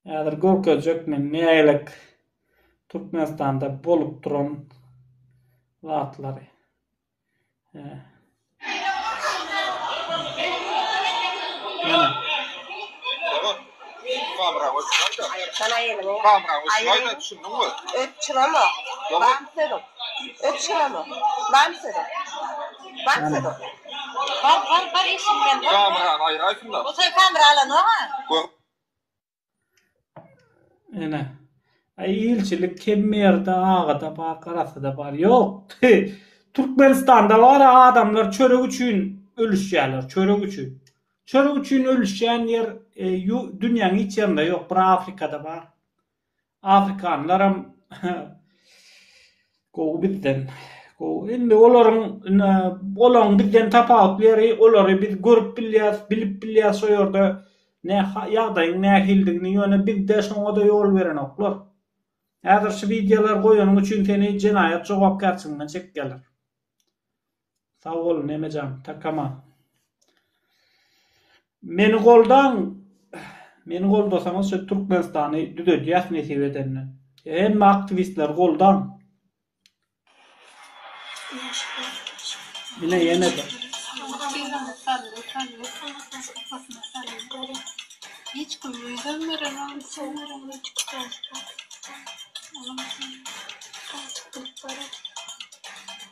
Häzir görkezjek men nägilek Türkmenistanda bolup duran zatlary. Ene. Ay ilçilik Kemmerde agada bar garasada bar yok Türkmenistanda bar adamlar çörek üçin ölüşýärler çörek üçin. Çörek üçin ölüşýän ýer e, dünýäň hiç ýerinde ýok bir Afrikada bar. Afrikanlaram gowy bizden. Gowy indi olaryň olaň bizden tapawutly ýeri olary biz görüp bilýäs, bilip bilýäs şo ýerde ne ýagdaýyň nähilidigini ýöne bizde şoňada ýol berenoklar. Häzir şu wideolar goýanyň üçin seni jenaýat jogapkärçiliginden çekýärler. Sag bol Memejan Takama. Meni goldaň Meni goldasaňyz şu Türkmenistany düzedýäs nesip edende. Hemme aktiwistleri goldaň. Ine ýene de. Hiç kim öýden beremem, sen beremem, çıkıp Olam sen. Kalçık bilip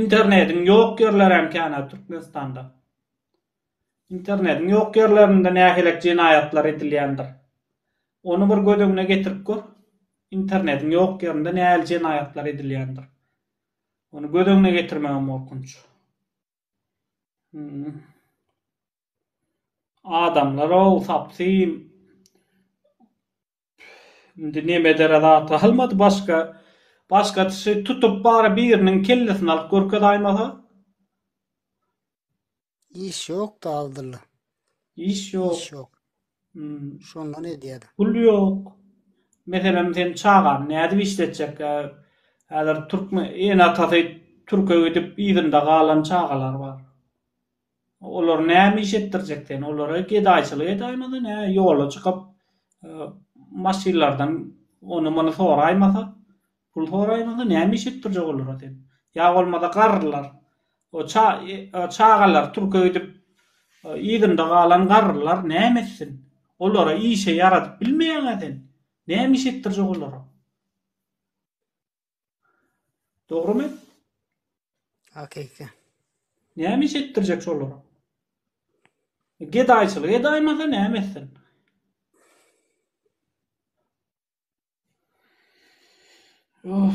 Internediň ýok ýerleri hem känä Türkmenistanda. Internediň ýok ýerlerinde nähilek jenaýatlar edilýändir. Ony bir göz öňüne getirip gör. Internediň ýok ýerinde nähili jenaýatlar edilýändir. Ony göz öňüne getirmegem gorkunç. Hmm. Adamlar-ow, sapsyn. Indi neme edere zat galmady başga. Başga dişi tutup bari biriniň kellesini alyp görkezaýmasa. Iş yok da aldylla. Iş yok. Iş yok. Hmm. Şondan edýärdi. Pul yok. Meselem sen çagany nädip işletjek? Häzir türkmen ene atasy türke gidip yzynda galan çagalar bar. Olar näme iş etdirjek seni? Olara gedaýçylyk edäýmezin, hä, ýola çykyp, maşynlardan ony-muny soraýmasa, pul soraýmasa, näme iş etdirjek olara sen? Ýa bolmasa garrylar, o çagalar türke gidip, yzynda galan garrylar näme etsin? Olara işe ýaradyp bilmeýäň-ä sen. Näme iş etdirjek olara? Dogrumy? Hakyky. Näme iş etdirjek şolara? Gedaýçylyk edaýmasa näme etsin? Of.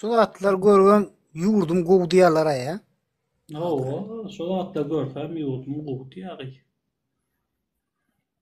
Şu zatlar görgem ýurdum gowy diýerler-ä ýa. Hawa, şu zatlar görsem ýurdum gowy diýäri.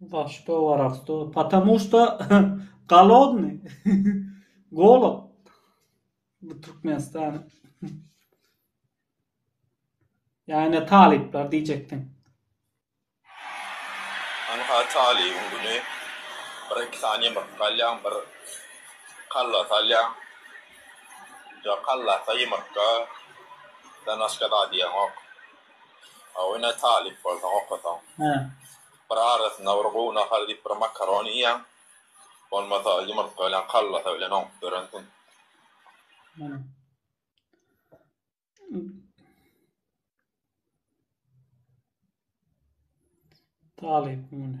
Za što worasto? Patamu što golodny. Golod. Bu Türkmenistan. Ýa-ne talyplar diýjekdiň. Ynha talybyň güni. Bir-iki sany ýumurtga alýaň, bir kolbasa alýaň. Ýok, kolbasa, ýumurtga, dan başga zat iýeňok. Hawa ine talyp bolsaň okasaň. Hä. Bir arasynda bir gowy nahar diýip bir makaron iýýäň. Bolmasa ýumurtga bilen kallasa bilen oňup ýörensiň. Hä. Talyp muny.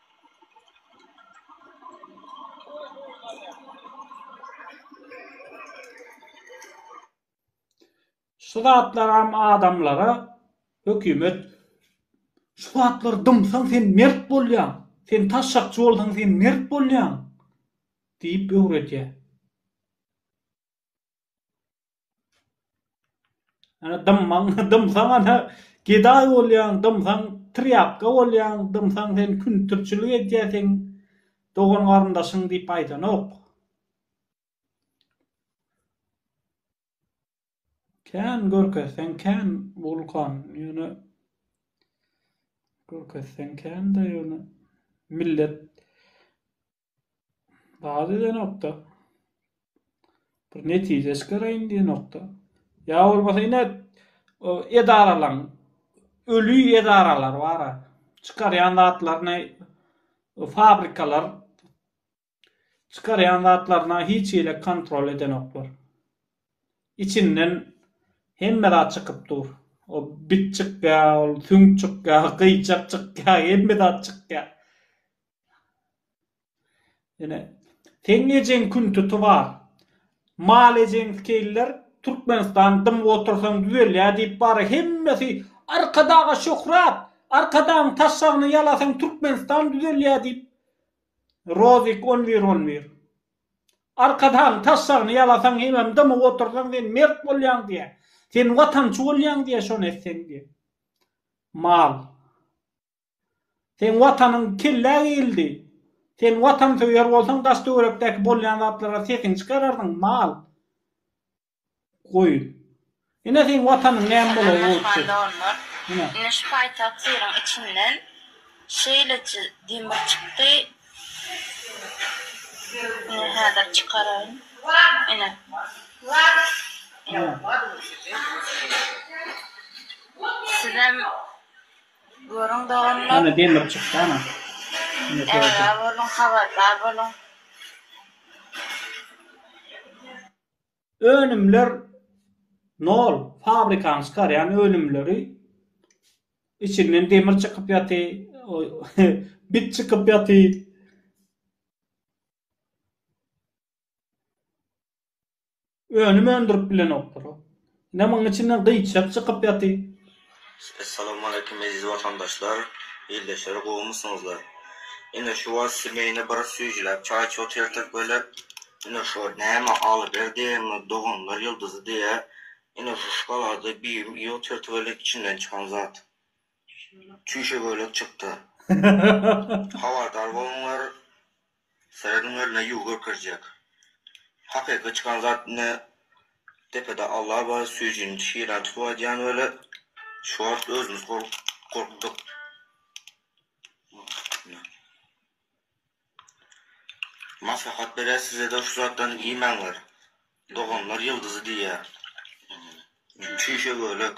Şu zatlaram adamlara hökümet şu zatlary dymsaň sen mert bolýaň, sen taşşakçy bolsaň sen mert bolýaň diýip öwredýär. Ana dymmaň, dymsaň ana gedaý bolýaň, dymsaň trýapka bolýaň, dymsaň sen küntürçilik edýärsiň, dogan-garyndaşyň diýip aýdanok. Kän görkezseň kän Wulkan, ýöne görkezseň kän-de ýöne millet Baz edenokda. Bir netije çykaryň diýenokda. Ýa bolmasa ine edaralaň öli edaralar bar. Çykarýan zatlaryny fabrikalar çykarýan zatlaryna hiç hili kontrol edenoklar. Içinden hemme zat çykyp dur. O bit çykýar, ol süňk çykýar, gyýçak çykýar, hemme zat çykýar. Seň ejeň kün tuty bar. Mal ejeňi skeýliler Türkmenistan dymyp otursaň düzelýä diýip bara hemmesi Arkadaga şöhrat Arkadagyň taşşagyny ýalasaň Türkmenistan düzelýä diýip Rozik on bir on bir Arkadagyň taşşagyny ýalasaň hemem dymyp otursaň sen mert bolýaň diýä sen watançy bolýaň diýä şony etseň diýä mal. Seň watanyň kellä geýildi. Sen watansöýer bolsaň daş töwerekdäki bolýan zatlara sesiňi çykarardyň, mal. Goýun. Ine seň watanyň näme bolary bolupdy. Salam Aman Dogan. Ine şu paýtagt şyryň içinden şeýleçe demir çykdy. Ine häzir çykaraýyn. Ine. Sizem. Görüň doganlar. Ýene demir çykdy ana. Ägä boluň habardar boluň. Önümler nol, fabrikanyň çykarýan önümleri içinden demir çykyp ýaty, bit çykyp ýaty. Önüm öndürip bilenokdyr. Ine munuň içinden gyýçak çykyp ýaty. Essalawmaleýkim eziz watandaşlar, ildeşler gowumysyňyzlar. Ine şu wagt semýany bir süýjüläp çaýçy otyrdyk böyle. Ine şu wagt näme Alyberdi diýýärmi, doganlar ýyldyzy diýýär. Ine şu şokolady bibim iýip otyrdy böyle içinden çykan zat. Çüýşe bölek çykdy. Habardar boluňlar. Serediň öline ýuw görkezjek. Hakyky çykan zat ine depede Alla bar süýjini çyran tutup aýdýan weli şu wagt özümiz gorkduk. Maslahat berýär sizede şu zatdan iýmäňler. Doganlar ýyldyzy diýýär. Çüýşe bölek.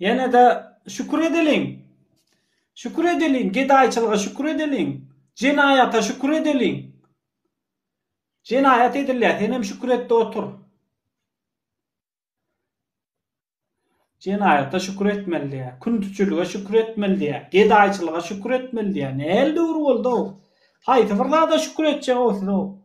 Ýene-de şükür edeliň! Şükür edeliň! Gedaýçylyga şükür edeliň! Jenaýata şükür edeliň! Jenaýat edilýär, senem şükür et-de otur. Jenaýata şükür etmeli diýýär, küntüçilige şükür etmeli diýýär, gedaýçylyga şükür etmeli diýýär. Nähili döwür boldy-ow? Haýsy bir zada şükür etjeg-ow siz-ow?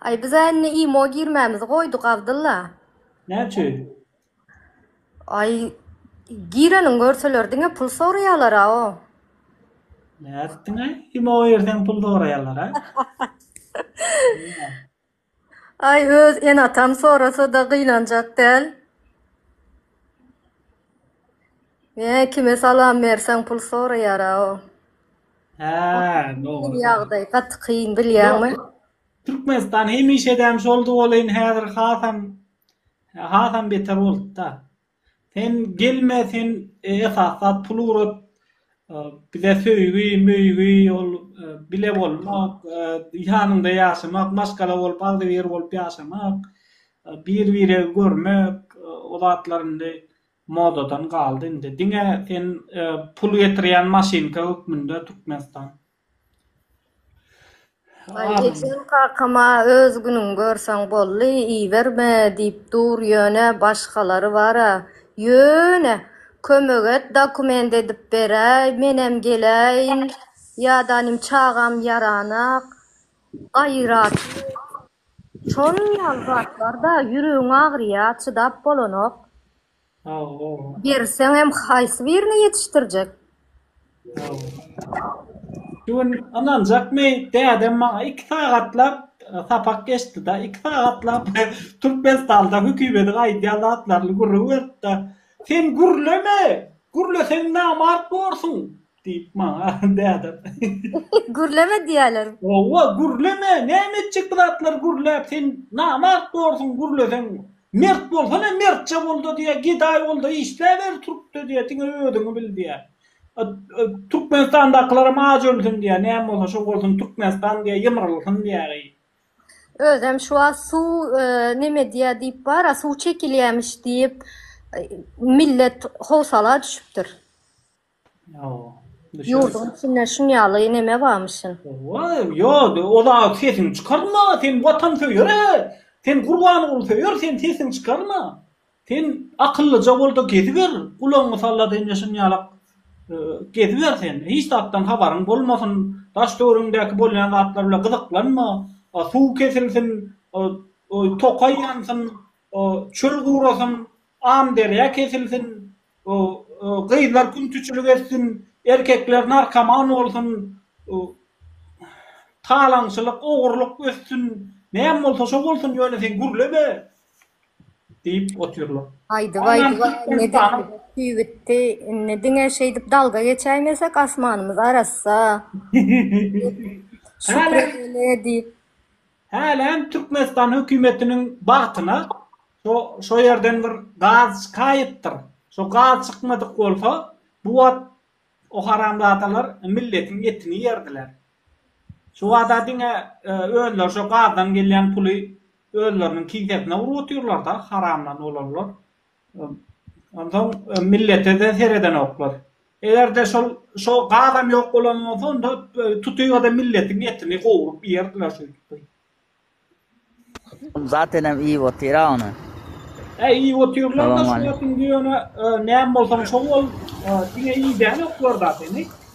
Aý bizä indi imo girmämizi goýduk Abdylla. Näçe? Aý gireniň görseler diňe pul soraýalara o. Nätdiňä imo girseň pul soraýalara. Aý öz ene atam sorasada gynanjak däl. Ýa kime salam berseň pul soraýara o. Hä dogry. Ýagdaý gaty kyn bilýäňmi. Türkmenistan hemişedäm şoldy welin häzir hasam hasam beter bolupda. Sen gelme sen esas zat pul ugrat bize söýgi möýgi ol bile bolmak ýanyňda ýaşamak maşgala bolup agzybir bolup ýaşamak bir biregi görmek o zatlar indi modadan galdy indi diňe sen pul getirýän maşynka hökmünde Türkmenistan. Ejem kakama öz günüňi görseň boldy, iýiberme diýip dur, ýöne başgalary bar-a. Ýöne, kömek et, dokument edip beräý, menem geläýin. Ýa-da inim çagam ýaranok, gaýraty. Şol ýaly zatlar-da, ýüregiň agyrýar, çydap bolanok. Berseňem haýsy birini ýetişdirjek? Şu gün ynanjakmy, dädem maňa iki sagatlap sapak geçdi-de, iki sagatlap Türkmenistanda hökümediň aýdýan zatlaryny gürrüň berdi-de, Sen gürleme! Gürleseň namart borsuň! Diýip, maňa dädem. Gürleme diýerler. Hawa, gürleme, näme etjek bu zatlary gürläp, sen namart borsuň, gürleseň. Mert bolsana, mertçe bol-da diýýär, gedaý bol-da, işläber türkde diýýär, diňe özüňi bil diýýär. Türkmenistandakylaram aç ölsün diýýär, näme bolsa şo bolsun, Türkmenistan diýýär, ýymrylsyn diýýär-eý. Özem şu wagt suw neme diýýär diýip bar-a, suw çekilýämiş diýip, millet howsala düşüpdir. Ýurduň içinde şuň ýaly neme barmyşyn. Ýok, o zat sesiňi çykarma, sen watansöýer-ä, sen Gurbangulsöýer, sen sesiňi çykarma. Sen akyllyja bol-da geziber, gulagyňy salla-da indi şuny ýalak geziber sen, hiç zatdan habaryň bolmasyn, daş-töweregiňdäki bolýan zatlar bilen gyzyklanma, suw kesilsin, tokaý ýansyn, O, çöl gurasyn, Amderýa kesilsin, O, gyzlar küntiçilik etsin, Erkekler narkoman bolsun, O, talaňçylyk, ogurlyk össün, Näme bolsa şo bolsun, ýöne sen gürleme! diýip otyrlar. Aýdyp-aýdyp-a indi dilimiz küýütdi. Indi diňe şeýdip dalga geçäýmesek, asmanymyz arassa. Şükredeli diýip. Hälem Türkmenistan hökümetiniň bagtyna şo ýerden bir gaz çykaýypdyr. Şo gaz çykmadyk bolsa, bu wagt o haramzadalar milletiň etini ýerdiler. Şu wagta diňe özleri şo gazdan gelýän puly özleriniň kisesine urup otyrlar-da, haramdan bolanlar. Onsoň millete-de seredenoklar. Eger-de şol şo gazam ýok bolan bolsa, onda tutyga-da milletiň etini gowrup iýerdiler şeýdip. Zatenem iýip otyr-a ony. Hä, iýip otyrlar-da, şuňa indi ýöne näme bolsaň şo bol, diňe iýdänoklar zateni.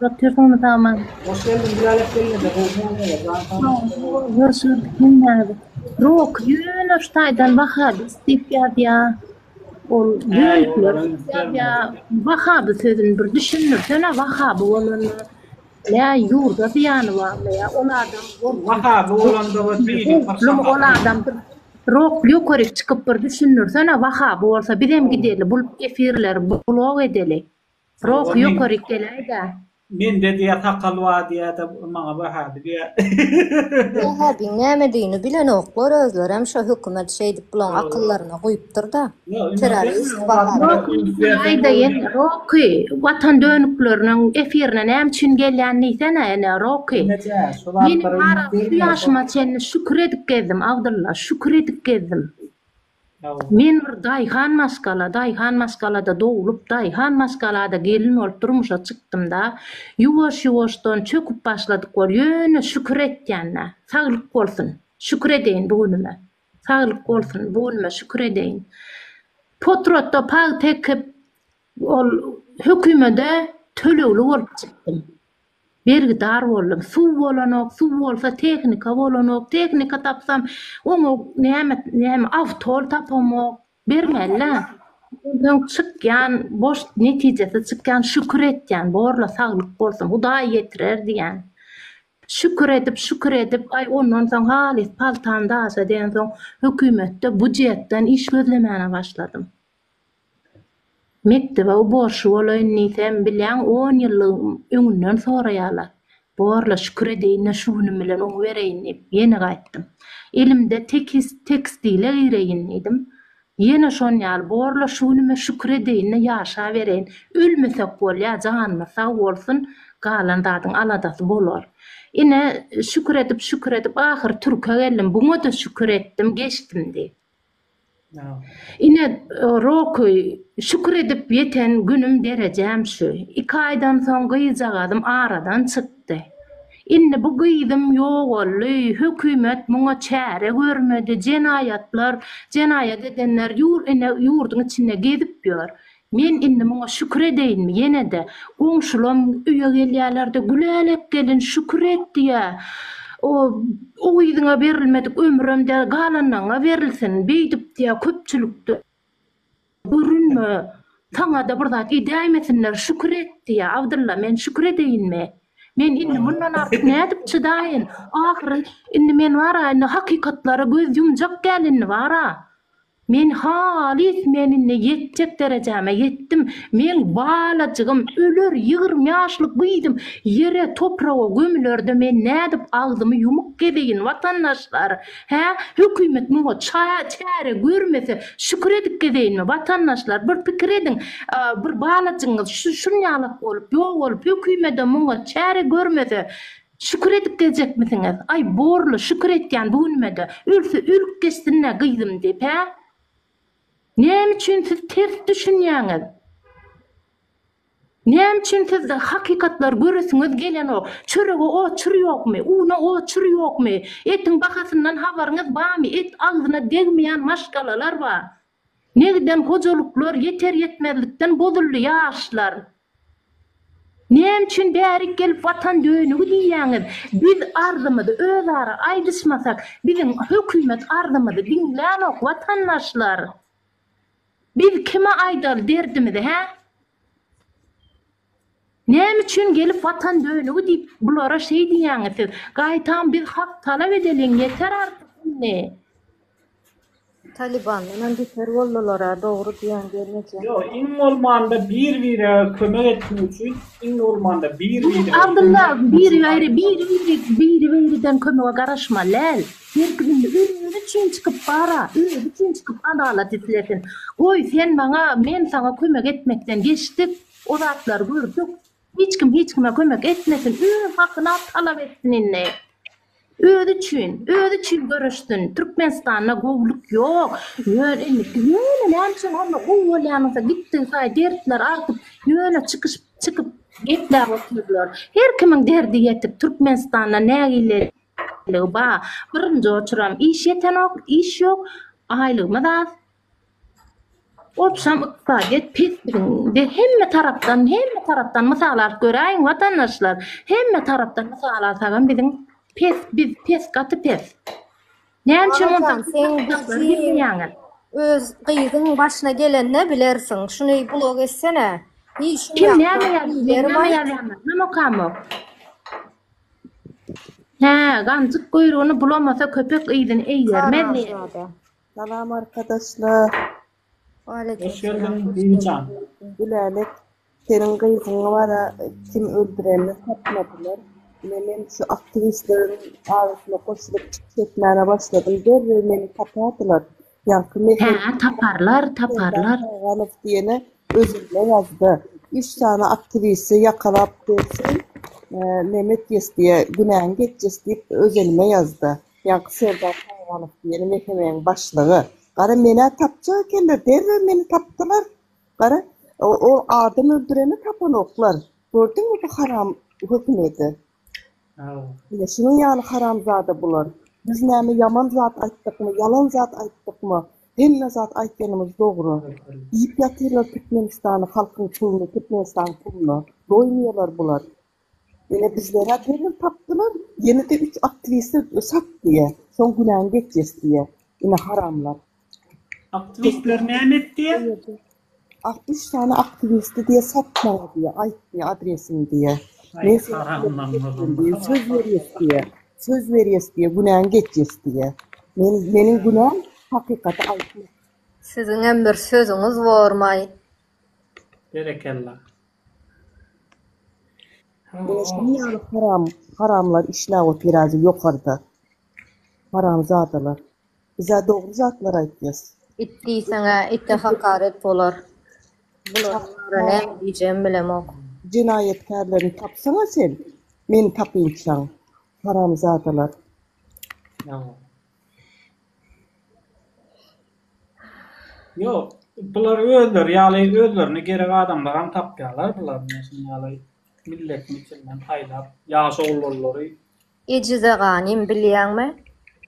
Götürdiňmi saman? Hoş geldiň Gülälet gelnede gowy muamele jan saglyk. Hoş gördük gelnäni. Roky ýöne şu taýdan wahabi diýip ýazýa. Ol ýölikler ýa wahabi sözüni bir düşündirsene wahabi bolany nä ýurda zyýany barmy ýa ol adam ol wahabi bolanda we biziň bir ol adam Rok ýokaryk çykyp bir düşündirsene wahabi bolsa bizem gideli bul efirleri blog edeli. Rohy ýokaryk geläýdä. Mende diýýä sakal bar diýýä de maňa bahady diýýä. Wähäbiň nämedigini bilenoklar özlerem şo hökümet şeýdip bulaň akyllaryna guýupdyrda. Terrorist bahady. Rohy watan dönükleriniň efirine näme üçin gelýän diýsene ene Rohy. Meniň şu ýaşyma çenli şükür edip gezdim Abdylla şükür edip gezdim. Men bir daýhan maşgala, daýhan maşgalada doglup, daýhan maşgalada gelin bolup durmuşa çykdym-da, ýuwaş-ýuwaşdan çöküp başladyk bol, ýöne şükür etýän-ä, saglyk bolsun, şükür edeýin bu günüme, saglyk bolsun, bu günüme şükür edeýin. Potratda pagta ekip, ol hökümede tölegli bolup çykdym. Bergidar boldum. Suw bolanok, suw bolsa tehnika bolanok, tehnika tapsam oňa näme näme awtol tapamok. Bermeli-dä. Onsoň çykýan boş netijesiz çykýan şükür etýän borla saglyk bolsun Hudaý ýetirer diýýän. Şükür edip şükür edip aý ondan soň halys paltam daşa diýensoň hökümetde budjetden iş gözlemäne başladym. Mekdebe-u borçly bolaýyn diýsem, bilýäň, on ýyllyk öňünden soraýarlar. Bor-la, şükür edeýin-de şu günüm bilen oňy bereýin diýip, ýene gaýtdym. Elimde tekis, tekstile gireýin diýdim. Ýene şon ýaly, bor-la, şu günüme şükür edeýin-de ýaşabereýin. Ölmesek bolýa, janymyz sag bolsun, galan zadyň aladasy bolar. Ine, şükür edip, şükür edip, ahyry türke geldim. Buňa-da şükür etdim, geçdim diýip. Ine, Roky, şükür edip ýeten günüm derejäm şu. Iki aýdan soň gyzjagazym aradan çykdy. Indi bu gyzym ýogaldy, hökümet muňa çäre görmedi, jenaýatlar, jenaýat edenler ýur ine ýurduň içinde gezip ýör. Men indi muňa şükür edeýinmi? Ýene-de, goňşulam öýe gelýärler-de, Gülälek gelin, şükür et! diýýä. O, O yzyňa berilmedik ömrem däl, galanlaňňa berilsin! Beýdip diýýä, köpçülikde görünme, saňa-da bir zat edäýmesinler, şükür et! diýýä. Abdylla, men şükür edeýinmi? Men indi mundan artyk nädip çydaýyn? Ahyryn, indi men bar-a, indi hakykatlary göz ýumjak däl indi bar-a! Men halys menine ýetjek derejäme ýetdim, meň balajygym öler ýigrimi ýaşly gyzym ýere topraga gömülerde men nädip agzymy ýumuk gezeýin watandaşlar hä hökümet muňa çäre görmese şükür edip gezeýinmi watandaşlar bir pikir ediň bir balajygyňyz şunýalak bolup ýok bolup hökümedem muňa çäre görmese Şükür edip gezjekmisiňiz? Aý, borly, şükür etýän bu günüme-de. Ölse ölüp geçsin-dä gyzym diýip, hä? Näme üçin siz ters düşünýäňiz? Näme üçin siz hakykatlary göresiňiz gelenok? Çörege oçur ýokmy? Una oçur ýokmy? Etiň bahasyndan habaryňyz barmy? Et agzyna degmeýän maşgalalar bar. Ne giden hojalyklar ýeter ýetmezlikden bozuldy ýaşlar. Näme üçin bärik gelip watan dönügi diýýäňiz biz arzymyzy özara aýdyşmasak biziň hökümet arzymyzy diňlänok watandaşlar. Biz kime aýdaly derdimizi hä. Näme üçin gelip watan dönügi diýip bulara şeý diýýäňiz siz? Gaýtam biz hak talap edeliň ýeter artyk indi. Talibandanam beter boldulara dogry diýen gelneje. Ýok iň bolmanda bir bire kömek etmek üçin iň bolmanda bir bire kömek Abdylla biri biri biri biri biri biriden kömege garaşmalyl her kim indi özi üçin çykyp bara özi üçin çykyp adalat islesin goý sen maňa men saňa kömek etmekden geçdik O zatlary gördük. Hiç kim hiç kime kömek etmesin, öz hakyny al talap etsin indi. Özi üçin, özi üçin göreşsin. Türkmenistanda gowulyk ýok. Ýöne indiki ýöne näme üçin onda gowy bolýan bolsa gitdigi saýy dertler artyp ýöne çykyş çykyp gepläp otyrlar. Her kimiň derdi ýetik, Türkmenistanda nägileligi bar. Birinji oçuram iş ýetenok, iş ýok, aýlygymyz az. Obşam ykdysadyýet pes de hemme tarapdan, hemme tarapdan mysal alyp göräýiň watandaşlar. Hemme tarapdan mysal alsagam biziň pes, biz pes, gaty pes. Näme üçin Aman ondan sen kitaplar bizi- gitmeýäňiz? Öz gyzyň başyna gelende bilersiň. Şuny blog etsene. Işim Kim ýa- näme ýazýar? Bileri Näme baý. ýazýarlar? Näme okamok? Hä, ganjyk guýrugyny bulamasa köpek yzyny eýermez diýýär. Haramzada. Salam arkadaşlar. Waleýkim Hoş geldiň Bibijan. Gülälek seniň gyzyňy bara kim öldürenini tapmadylar. Ine men şu aktiwistleriň arasyna goşulyp çykyş etmäne başladym. Derrew meni tapardylar. Ýaňky mesaj. Hä, taparlar, taparlar. Ganyp diýene özümde ýazdy. Üç sany aktiwisti ýakalap bersin, Mehmet Ýesdiýe günäň geçjis diýip öz elime ýazdy. Ýaňky serdar Saýganow diýeni mehemeň başlygy. Gara menä tapjak ekenler, derrew meni tapdylar. Gara, ol adam öldüreni tapanoklar. Gördüňmi bu haram hökümeti? Ine şunuň ýaly haramzada bular. Biz näme ýaman zat aýtdykmy, ýalan zat aýtdykmy? Hemme zat aýtýanymyz dogry. Iýip ýatyrlar Türkmenistany, halkyň puluny, Türkmenistanyň puluna. Doýmaýarlar bular. Ýöne bizlere gelin tapdylar, ýene-de üç aktiwiste sat diýýä. Şoň günäň geçýäs diýýä. Ine haramlar. Aktiwistler näme et diýýä? Ak üç sany aktiwisti diýýä sat maňa diýýä, aýt diýýä adresini diýýä. Men seni söz berýäs diýýä. Söz berýäs diýýä, günäň geçýäs diýýä. Men meniň günäm hakykaty aýtmak. Siziňem bir sözüňiz bormaý. Berekella. Ine şunuň ýaly haram haramlar işläp otyrady ýokarda. Haramzadalar. Bizä dogry zatlar aýtýas. It diýseňä ite hakaret bolar. Bularyň baryna näme diýjegimi bilemok. Jenaýatkärlerini tapsaňa sen. Meni tapynçaň. Haramzadalar. Ýok, bular özleri ýaly özlerine gerek adamlaram tapýarlar bular diýen şuň ýaly milletini içinden saýlap ýaş oglanlary. Ejize ganym bilýäňmi?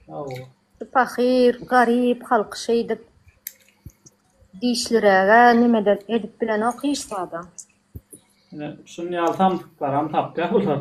Hawa. Şu pahyr, garyp halky şeýdip dişliräge nimede edip bilenok hiç zadam. Ine şuny ýaly samsyklaram tapýar bular.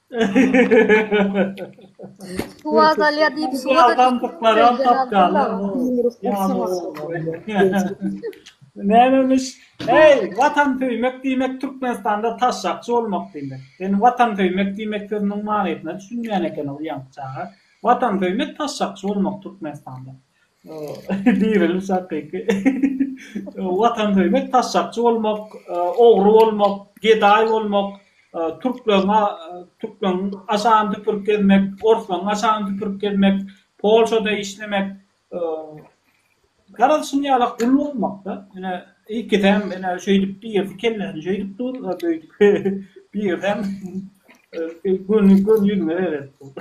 Suw azalýar diýip suwa-da Nämemiş? Heý, Watan söýmek diýmek Türkmenistanda taşşakçy bolmak diýmek. Sen Watan söýmek diýmek sözüniň manysyna düşünmeýän ekeniň uýank çaga. Watan söýmek taşşakçy bolmak Türkmenistanda. Diriliş hakyky watansöýmek taşşakçy bolmak, ogry bolmak, gedaý bolmak, türkleriň türkleriň aşagyny süpürip gezmek, orslaryň aşagyny süpürip gezmek, polşada işlemek, garaz şuny ýalak gul bolmakda, ine ikisem ine şeýdip birisi kellesini şeýdip dur, beýdip birisem göni göni ýüzüňe seredip dur.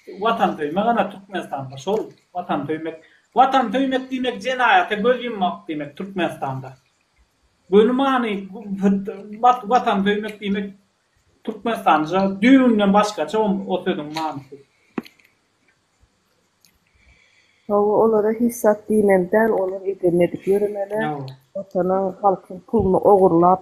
Watan söýmek ana Türkmenistanda şol Watan söýmek Watan söýmek diýmek jenaýata göz ýummak diýmek Türkmenistanda. Göni many Watan söýmek diýmek Türkmenistanda düýbünden başgaça o sözüň manysy. Hawa olara hiç zat diýmeli däl olar edemedik ýöremeler Watanyň halkyň puluny ogurlap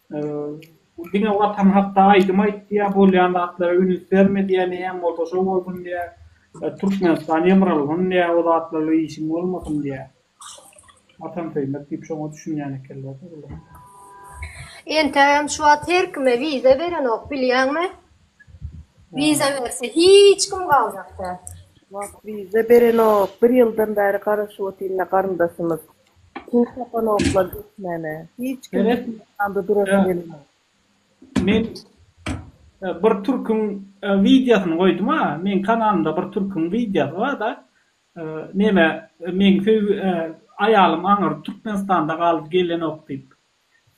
Bu diňe Watan hakda aýdym aýtýar, bolýan zatlara üns berme diýýär, näme bolsa şo bolsun diýýär. Türkmenistan ýymrylgyn diýýär, o zatlarla işiň bolmasyn diýýär. Watansöýmek diýip şoňa düşünýän ekenler-de bular. Entägem şu wagt her kime wiza berenok, bilýäňmi? Wiza berse hiç kim galjak däl. Şu wagt wiza berenok, bir ýyldan bäri garaşyp otyryn-da garyndaşymyz. Köp sapaloglar geçmäne. Hiç kim Men et ýanda durasy Ä, gelenok. men e, bir türküň e, wideosyny goýdum ha. Meň kanalymda bir türküň wideosy bar-da. E, Neme, e, meň söýgi e, aýalym aňyrdy Türkmenistanda galdy gelenok diýip.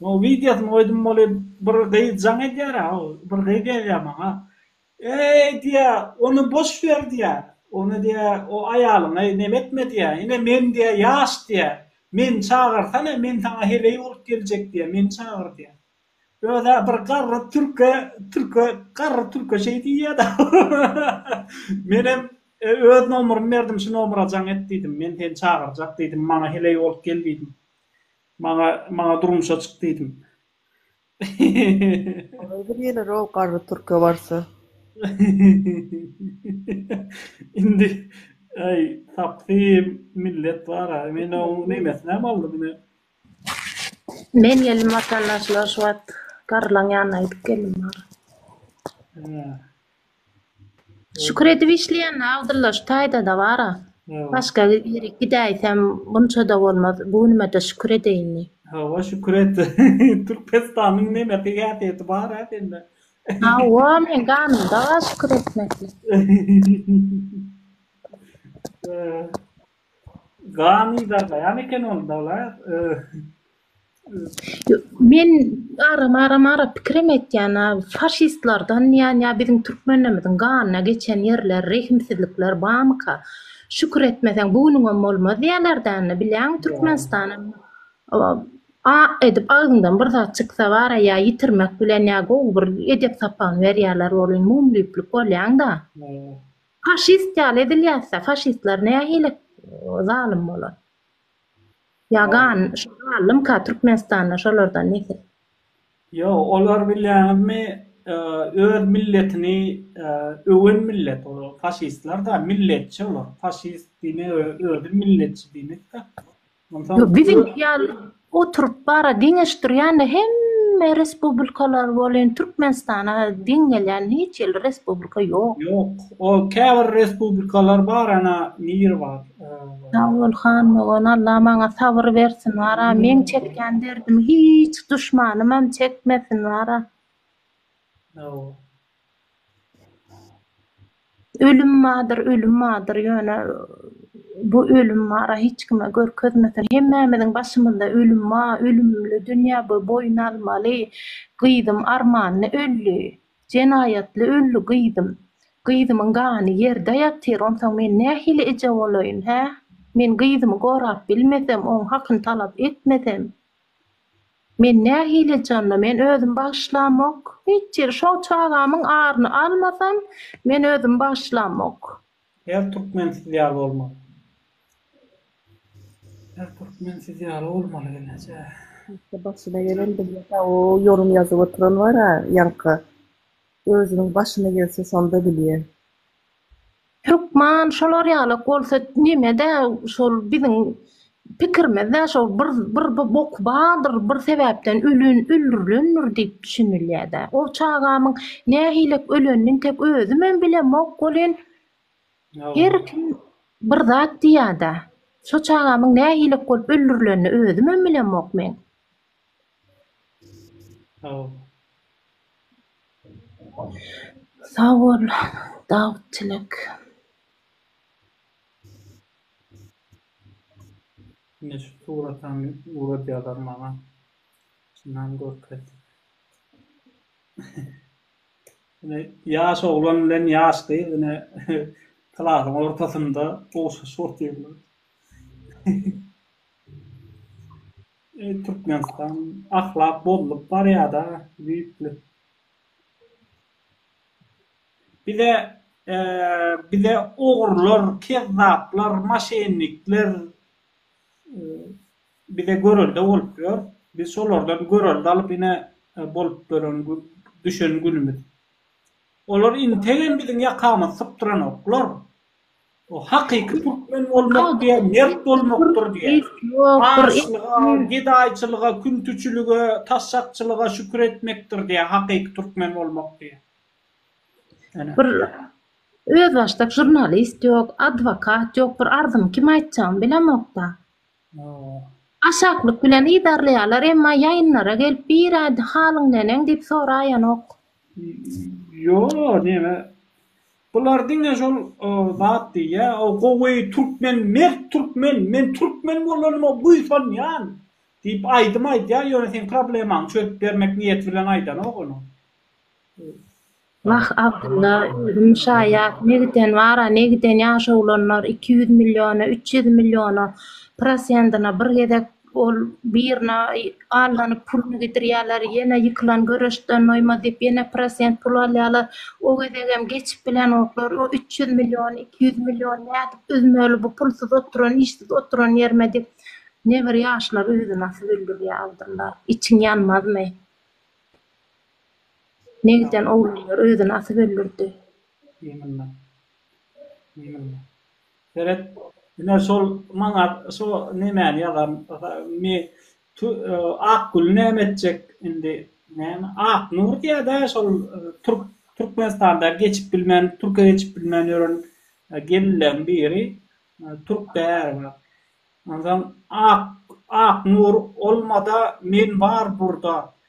O wideosyny goýdum, ol bir gyz jaň edýär-ä, ol bir gyz ýazýar maňa. Eý, diýýär, ony boş ber, diýýär. Ony, diýýär, o aýalyňa nem etme, diýýär. Ine, men, diýýär, ýaş, diýýär. Meni çagyrsana, men saňa heleý bolup geljek, diýýär. Meni çagyr, diýýär. Öz-ä bir garry türke, türke, garry türke şeý diýýä-de. Menem öz nomerymy berdim, şu nomera jaň et diýdim. Men seni çagyrjak diýdim, maňa heleý bolup gel diýdim. Maňa, maňa durmuşa çyk diýdim. Olar bir geler-ow garry türke barsa. Indi aý sapsy millet bar-a. Men oň nemesinem aldym ine. Men geldim watandaşlar şu wagt garrylaň ýanyna gidip geldim agyr. Hä. Şükür edip işleýän Abdylla şu taýdada bara. Başga ýere gidäýsem bunçada bolmaz. Bu günümede şükür edeýin diý. Hawa şükür et. Türkmenistanyň nämekä häsiýeti bar-a sende. Hawa meň ganymda bar şükür etmeklik. Gan yzarlaýan eken ol Dawlat. Men aram aram ara pikirim etýän a faşistlardan diýän ýa biziň türkmenlerimiziň ganyna geçen ýerler rehimsizlikler bamyka şükür etmeseň bu günüňem bolmaz diýerler däne bilýäňmi türkmenistana a edip agzyňdan bir zat çyksa bara ýa ýitirmek bilen ýa gowy bir edep sapagyny berýärler welin mumlyplyk bolýaňda faşist ýaly edilýäsda faşistler nähili zalym bolar. Ýagan, şo galdymka Türkmenistanda şolardan nesil? Ýok, olar bilýäňizmi, öz milletini öwen millet ol faşistler-da, milletçi olar, faşist diýmek özi milletçi diýmek-dä. Onsoň Biziňki ýaly oturyp bara deňeşdirýän-de hemme respublikalar welin Türkmenistana deň gelýän hiç hili respublika ýok. Ýok, o käbir respublikalar bar ana nir bar. Sagol Handogan Allah maňa sabyr bersin wara meň çekýän derdimi hiç duşmanymam çekmesin wara. Ölüm bardyr ölüm bardyr ýöne bu ölüm wara hiç kime görkezmesin hemmämiziň başymyzda ölüm bar ölümli dünýä bu boýun almaly gyzym armanly öldi. Jenaýatly öldi gyzym. Gyzymyň gany ýerde ýatyr, onsoň men nähili eje bolaýyn, hä? Men gyzymy gorap bilmesem, oň hakyny talap etmesem, men nähili eje onda? Men özüm bagyşlamok. Hiç ýeri, şo çagamyň aryny almasam, men özüm bagyşlamok. Her türkmen siz ýaly bolmaly. Her türkmen siz ýaly bolmaly geljek. Ýa başyna gelen bilmese o ýorum ýazyp oturan bara ýaňky özüniň başyna gelse sonda bilýä. Türkman şolar ýalak bolsa nemede şol biziň Pikirimizde şol bir bir bok bardyr, bir sebäpden ölen, öldürilendir diýip düşünilýär-dä. O çagamyň nähilek ölenini tek özümem bilemok welin, her kim bir zat diýýär-dä. Şo çagamyň nähilek bolup öldürilenini özümem bilemok men. Sag bol Dawut Tilek. Ine şu suratam uradýalar maňa. Çynam görkez. Ine ýaş oglan bilen ýaş gyz ine klasyň ortasynda gowşaşyp otyrlar. Eý Türkmenistan ahlak bozulyp barýada düýpli. Bize bize ogrular, kezzaplar, maşennikler bize görelde bolup ýör. Biz şolardan görelde alyp ine bolup dönen düşen günümiz. Olar integem biziň ýakamyzy sypdyranoklar. O hakyky türkmen bolmak diýen mert bolmakdyr diýýär. Açlyga, gedaýçylyga, küntüçilige, taşşakçylyga şükür etmekdir diýýär hakyky türkmen bolmak diýýär. Bir özbaşdak žurnalist ýok, adwokat ýok, bir arzyňy kime aýtjagyňy bilemokda. Aşaklyk bilen yzarlaýarlar, emma ýaýynlara gelip bir aýdy halyň neneň diýip soraýanok. Ýo, neme, bular diňe şol zat diýýä, o gowy türkmen, mert türkmen, men türkmen bolanyma buýsanýan diýip aýdym aýdýar, ýöne seň problemaňy çözüp bermek niýeti bilen aýdanok ony. Wah, Abdylla, özüm şaýat, ne giden bar-a, ne giden ýaşawulanlar iki ýüz milliona, üç ýüz milliona prosendine bir gezek ol birine allanyp puluny gidirýärler, ýene ýykylan göreşden doýmaz diýip, ýene prosent pul alýarlar. O gezegem geçip bilenoklar. O üç ýüz million, iki ýüz million nädip üzmeli bu pulsuz oturan, işsiz oturan ýerime diýip, nebir ýaşlar özüni nasy güldürýär, Abdylla. Içiň ýanmazmy? Ne giden oglanlar özüni asyp öldürdi. Biýmillah. Biýmillah. Seret, ine şol maňa şo nemäni ýazan me tu Akgül näme etjek indi? Näme? Aknur diýýä-dä şol türk Türkmenistanda geçip bilmän, türke geçip bilmän ýören gelinleň biri. Türk-dä äri bar. Onsoň Ak Aknur olma-da men bar burda.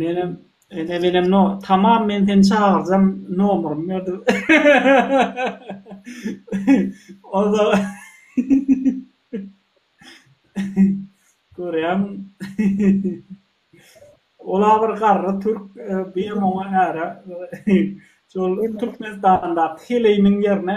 Menem ene benem no tamam men seni çagyrjam nomurymy ber diýip oza görýäň ola bir garry türk biem oňa äre şol türkmenistandaky heleýiniň ýerine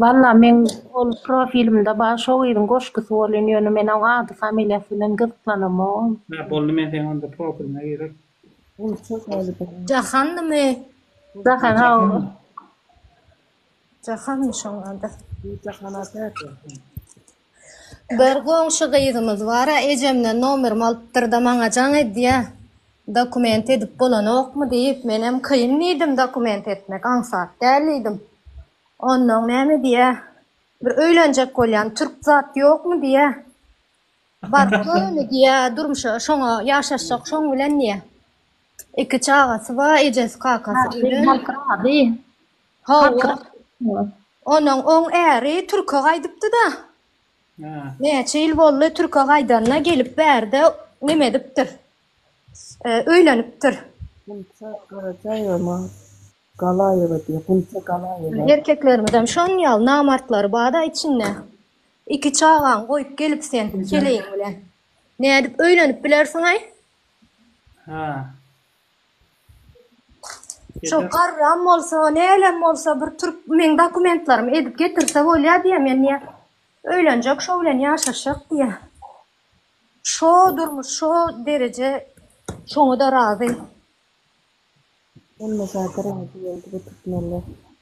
Walla meň ol profilimde bar şo gyzyň goşgusy bolyn ýöne men oň ady familiýasy bilen gyzyklanamogm. Hä boldy men seň onda profiliňe girip. Jahandymy? Jahan hawa. Jahanmy şoň ady? Bir goňşy gyzymyz bar-a, ejemden nomerimi alypdyr-da, maňa jaň edýär, Dokument edip bolanokmy? diýip, menem kyn diýdim, dokument etmek aňsat däl diýdim. Onnoň näme diýýär, Bir öýlenjek bolýan türk zat ýokmy diýýär. Baryp göni diýýär, durmuşa şoňa ýaşaşjak şoň bilen diýýär. Iki çagasy bar, ejesi, kakasy ölen. Halk razy. Hawa. Onuň oň äri türke gaýdypdy-da. Näçe ýyl boldy türke gaýdanyna gelip bärde neme edipdir. Öýlenipdir. Gunça Garajaýewama Galaýewa diýýär. Gunça Galaýewa. Erkeklerimizem şonuň ýaly namartlary bar-da içinde. Iki çagaňy goýup gelip sen keleýiň bilen nädip öýlenip bilersiňaý? Hä. Şo garram bolsa, nälem bolsa bir türk meň dokumentlerimi edip getirse bolýa diýýä men diýýä. Öýlenjek şo bilen ýaşaşjak diýýä. Şo durmuş şo dereje şoňa da razy. Bolmasa razy boldy bu türkmenler.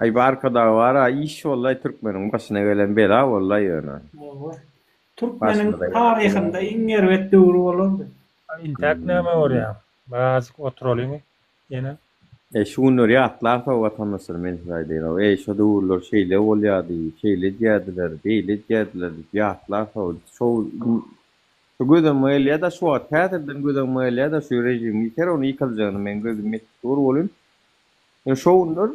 Aý barkadagy bara iş bollaý türkmeniň başyna gelen bela bollaý ýöne. Hawa. Türkmeniň taryhynda iň erbet döwri bolardy. A intäk näme görýäň? Birazjyk oturalyň ýene. Eý şu günleri ýatlar soň watandaşlar men size aýdaýyn-ow eý şo döwürler şeýle bolýady, şeýle edýädiler, beýle edýädiler diýip ýatlar soň şo şo göz öňüme gelýä-de şu wagt häzirden göz öňüme gelýä-de şu režim ýiter ony ýykaljagyna meň gözüm ýetip dur welin Ine şo günler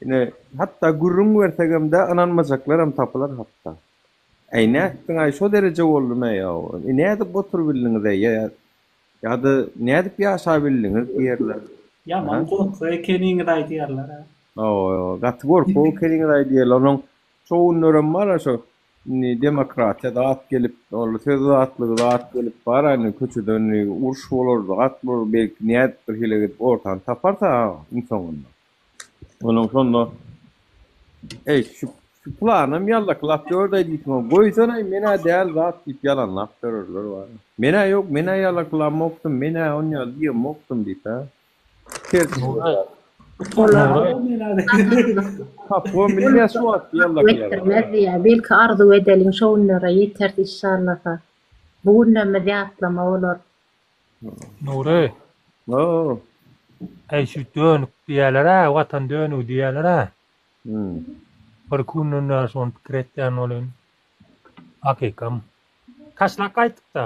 ine hatda gürrüň bersegem-de ynanmajaklaram tapylar hatda. Äý nätdiň-aý şo dereje boldumy ýa-o, e nädip oturybildiňiz-eý ýa-ýa ýa-da nädip ýaşabildiňiz diýerler. Ýaman gorkak ekeniňiz-aý diýerler-ä. Hawa, gaty gorkak ekeniňiz-aý diýerler. Onuň şo günlerem bar-a şo Indi demokratiýa zat gelip, ol söz azatlygy zat gelip bar, indi köçede indi uruş bolar, zat bolar, belki nädip bir hile edip ortany taparsa iň soňunda. Onuň şonda Eý, şu planym ýaldaky lap ýördeý diýseň, goýsana, men-ä däl zat diýip ýalanlap ýörerler bar. Men-ä ýok, men-ä ýalaklamokdym, men-ä onýaly diýemokdym diýip-ä. Belki arzuw edeliň şo günlere ýeters inşallasa. Bu günlerimiz ýatlama bolar. Nury. Hoo. Eý şu dönük diýýäler-ä watan dönügi diýýäler-ä. Hum. Bir iki günden bäri şony pikir etýän welin hakykam. Taşlap gaýtdyk-da.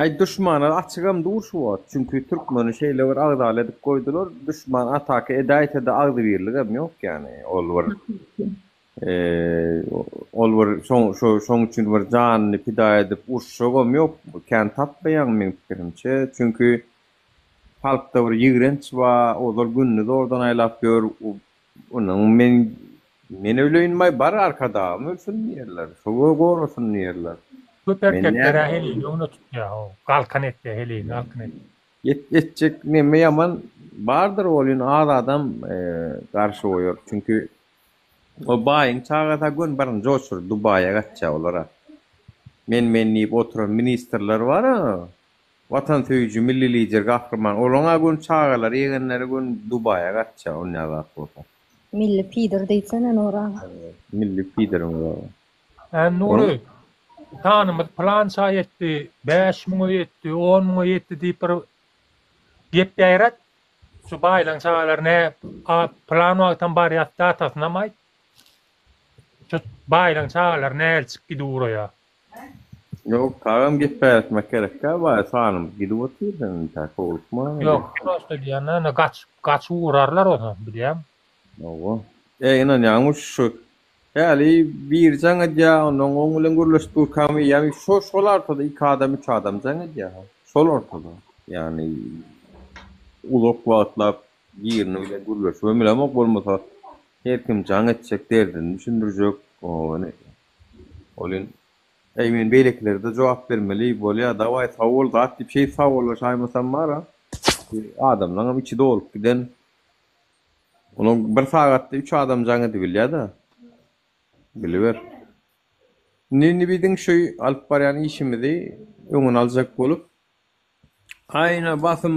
Aý duşmana açygam dur şu wagt, çünki türkmeni şeýle bir agzaly edip goýdular, duşman ataka edäýse-de agzybirligem ýok ýani, ol bir ol bir şoň üçin bir janyny pida edip uruşjagam ýok, kän tapmaýaň meň pikirimçe, çünki halkda bir ýigrenç bar, ozal gündiz ordan aýlap ýör, Onuň men men öleýinmay bar arkadagym ölsün diýerler, sowa gorasyn diýerler. Köp erkeklere helini öňüne tutýa o galkan etýä helini galkan et. Ýet etjek neme ýaman bardyr welin az adam garşy goýar çünki o baýyň çagasy gön baryny joşuryp dubaýa gaçýa olara men men diýip oturan ministrler bara Watansöýüji Milli Lider Gahryman olaň a gün çagalary ýegenleri gün Dubaýa gaçja on ýaz ak bolsa. Milli pidir diýsene Nury aga. Milli pidir Nury aga. Ä Nury Tanymyz pylança etdi bäş müňe ýetdi on müňe ýetdi diýip bir gep ýaýrat. Şu baýlaň çagalary nä a pylan wagtam barýas datasynam aýt. Şu baýlaň çagalary näçik gidip uraýa. Ýok, tagam gep bäretmek gerekkä baý sanym gidip otyr sen intä howlukma. Ýok, prosta diýýän-dä indi gaçyp, gaçyp ugrarlar bolsa bilýäň. Hawa. Eý ynanýaňmy şu häli biri jaň edýä onnoň oň bilen gürleşip durkam eýýäm şo şol artada iki adam üç adam jaň edýä şol ortada ýagny uzak wagtlap birini bilen gürleşibem bilemok bolmasa her kim jaň etjek derdini düşündirjek ony Ol in. Eý men beýlekilerde jogap bermeli bolýa dawaý sag bol zat diýip şeýt sagollaşaýmasam bara adamlaňam içi dolup giden olam bir sagatda üç adam jaň edibilýada biliber indi indi biziň şu alyp barýan işimizi öňüni aljak bolup aýna basym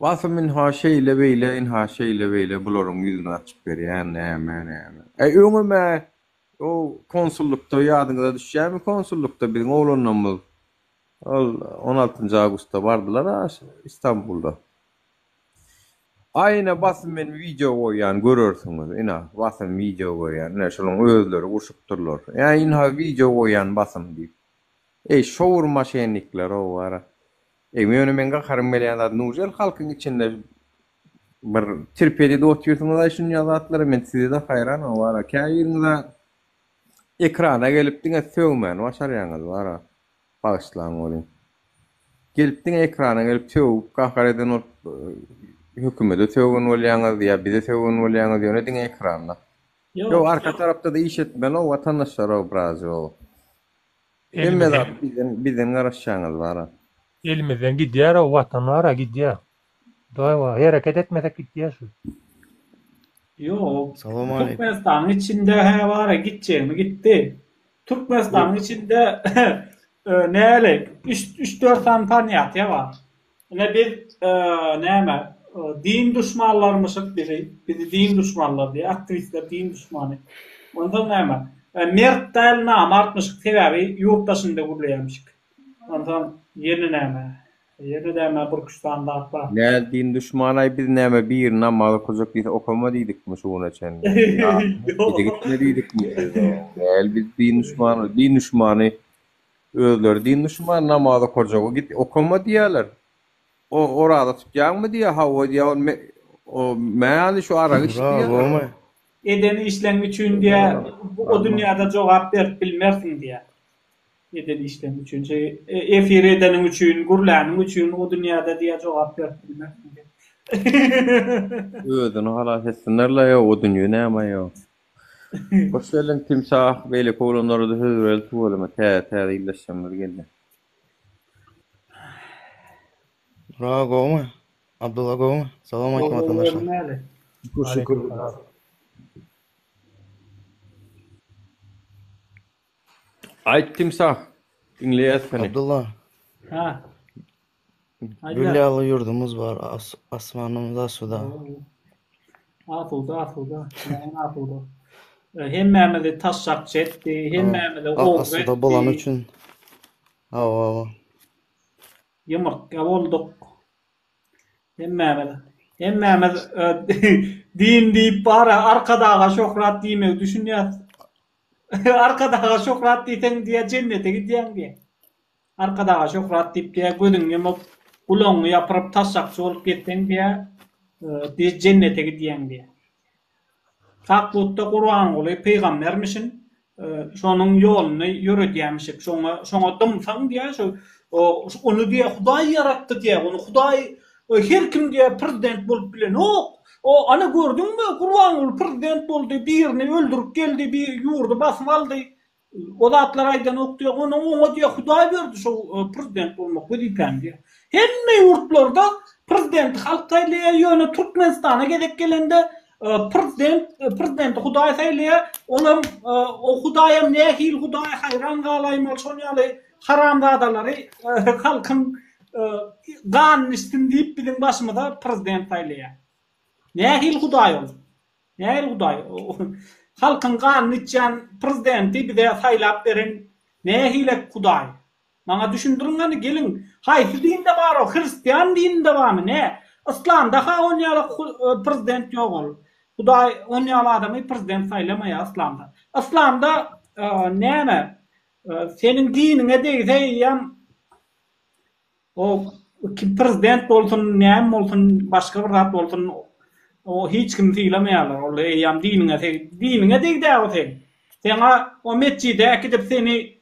basym ynha şeýle beýle ynha şeýle beýle bularyň ýüzüni açyp berýän näme näme eý öňem-ä O konsullukda ýadyňyza düşýärmi konsullukda biziň oglanlarymyz ol on altynjy awgustda bardylar-a Istanbulda. Aý ine basym men wideo goýýan görersiňiz ina basym wideo goýýan ine şolaryň özleri gurşupdyrlar ä ynha wideo goýýan basym diýip eý şowur maşennikler ow ara eý ýöne meň gaharym gelýän zat nujel halkyň içinde Bir terpedede otyrsyňyz-a şunja zatlara, men size-de haýranam wara. Käbiriňiz-ä ekrana gelip diňe sögmäni başarýaňyz wara. Bagyşlaň welin. Gelip diňe ekrana gelip sögüp gahar eden bolup hökümede sögen bolýaňyz ýa bize sögen bolýaňyz ýöne diňe ekranda. Ýok arka tarapda-da iş etmeli-ow watandaşlar-ow biraz-ow. Hemme zat bizden garaşýaňyz wara. Elimizden gidýär-ow watan wara gidýär. Daýwa hereket etmesek gitýä şu. Ýok. Salam aleýkum. Türkmenistanyň içinde hä bara gitjegini gitdi. Türkmenistanyň içinde näli üç üç dört sany panýatiýa bar. Ine biz näme din duşmanlarymyşyk bizi bizi din duşmanlar diýýär aktiwistler din duşmany. Onsoň näme mert däl namartmyşyk sebäbi ýurt daşynda gürleýärmişik. Onsoň ýene näme Ýene näme Burkuşdan lapa. Näldin duşmanaý biz näme bir namaz okajak diýse okama diýdikmi şu güne çenli Ýa gitme diýdikmi biz Näl biz din duşman din duşmany özleri din duşmany namaz okajagy git okama diýýäler O oraza tutýaňmy diýýä hawa diýýä ol o mäli şu aragy iç diýýä. Eden işleň üçin diýýä o dünýäde jogap berip bilmersiň diýýä. Eden işleň üçin şeý efir edeniň üçin gürläniň üçin o dünýäde diýä jogap berip bilmersiň sen. Özüni halas etsinler-la ýa o dünýe näme ýa. Hoş geldiň Timsah beýleki oglanlarada söz bereli tüweleme täze täze ildeşlerimiz gelýä. Bravo gowmy? Abdylla gowmy? Salam aýtym watandaşlar. Şükür şükür. Aýt timsah, diňleýäs seni. Abdylla. Ha. Gül ýaly ýurdumyz bar, asmanymyz asuda. Asuda, asuda. Näme asuda? Hemmämizi taşşakçy etdi, hemmämizi ogry etdi. Asuda bolany üçin. Hawa. Ýumurtga bolduk. Hemmämiz. Hemmämiz din diýip bara Arkadaga şöhrat diýmegi düşünýäs. Arkadaga şöhrat diýseň diýýä jennete gidýäň diýýä. Arkadaga şöhrat diýip diýýä gözüňi ýumup, gulagyňy ýapyryp taşşakçy bolup gezseň diýýä jennete gidýäň diýýä. Kakbutda Gurbanguly pygambermişin, şonuň ýoluny ýöredýämişik, şoňa şoňa dymsaň diýýä şu ony diýýä Hudaý ýaratdy diýýä, ony Hudaý Oý her kim diýýär prezident bolup bilenok. O ana gördüňmi Gurbanguly prezident boldy birini öldürip geldi bir ýurdy basyp aldy o zatlar aýdanok diýýär ony oňa diýýär hudaý berdi şo prezident bolmak wezipäni diýýär. Hemme ýurtlarda prezidenti halk saýlaýar ýöne Türkmenistana gezek gelende Prezidenti Hudaý saýlaýar, olam o Hudaýam nähili Hudaý haýran galaýmaly şol ýaly haramzadalary halkyň ganyny içsin diýip biziň başymyza prezident saýlaýar. Nähili Hudaý ol? Nähili Hudaý? Halkyň ganyny içýän prezidenti bize saýlap beren nähilek Hudaý? Maňa düşündiriň hany gelin. Haýsy dinde bar ol hristian dininde barmy ne? Yslamda ha on ýala prezident ýok ol. Hudaý on ýala adamy prezident saýlamaýa yslamda. Yslamda näme seniň diniňe degse eýýäm o kim prezident bolsun näme bolsun başga bir zat bolsun o hiç kimi sylamaýarlar ol eýýäm diniňe diniňe degdä o seň. Seň a o metjide äkidip seni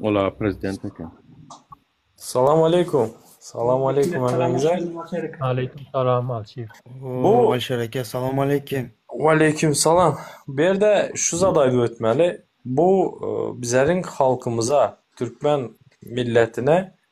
Ol aga prezident eken. Salam aleykum. Salam aleykum hemmäňize. Aleyküm salam Alşir. Bu Alşir eke salam aleyküm. Waleyküm salam. Bu ýerde şu zady aýdyp ötmeli. Bu bizeriň halkymyza, türkmen milletine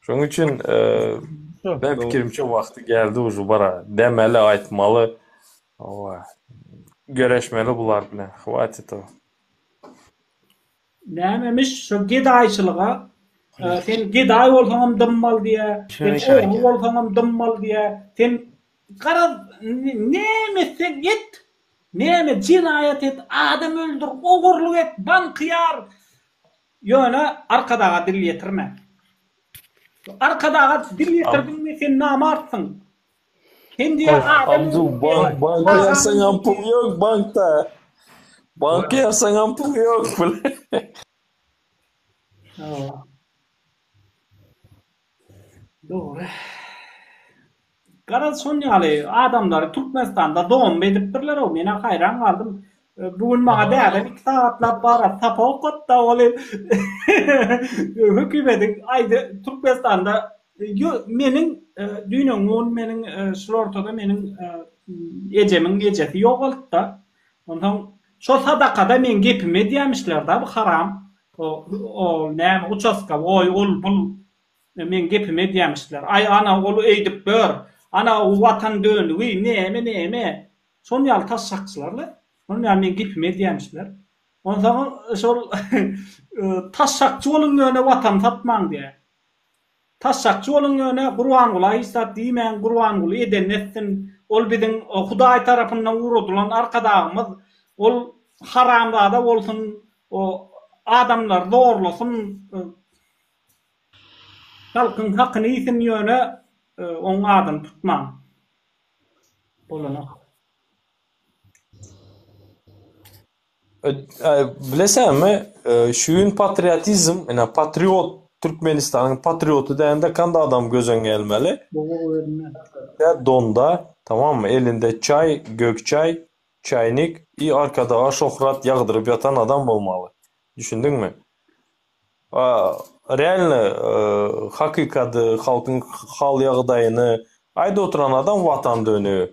Şonuň üçin ben pikirimçe wagty geldi uzu bara. Demeli, aýtmaly. Owa. Göreşmeli bular bilen. Hwatit o. Nämemiş şo gedaýçylyga sen gedaý bolsaňam dymmaly diýä, sen ogry bolsaňam dymmaly diýä, sen garaz näme etseň et, näme jenaýat et, adam öldür, ogurlyk et, banky ýar, Ýöne arkadaga dil ýetirme. Arkadaga dil ýetirdiňmi sen namartsyň. Sen diýe adam öldürýäň. Banka ýazsaňam pul ýok bankda. Banka ýazsaňam pul ýok. Dogry. Garaz şon ýaly adamlary Türkmenistanda domb edipdirler-ow. Men-ä haýran galdym. Bu gün maňa dädem iki sagatlap bara sapa okatdy-da, ol hem hökümediň aýdy Türkmenistanda ýo meniň düýn-öňňi gün meniň şul ortada meniň ejemiň ejesi ýogaltdy-da. Onsoň Şo sadakada meň gepimi edýämişler da bu haram ol näme uçaska oý ol bul meň gepimi edýämişler aý ana ol eýdip dur ana u watan dönügi näme näme şon ýaly taşşakçylar la şon ýaly meň gepimi edýämişler onsoň şol taşşakçy boluň ýöne watan satmaň diýä Tas sakçy boluň ýöne Gurbangula hiç zat diýmäň Gurbanguly edenini etsin ol biziň Hudaý tarapyndan uradylan arkadagymyz ol haramzada bolsun o adamlary zorlasyn halkyň hakyny iýsin ýöne oň adyny tutmaň bolanok. Bilesäňmi, şu gün patriotizm, ine, patriot, Türkmenistanyň patrioty dändä kand adam gözüň gelmeli. Ýa donda, tamammy, elinde çaý, gök çaý, çaýnik i arkadaga şöhrat ýagdyryp ýatan adam bolmaly. Düşündiňmi? A, realny, hakykady, halkyň hal-ýagdaýyny aýdyp oturan adam Watan dönügi.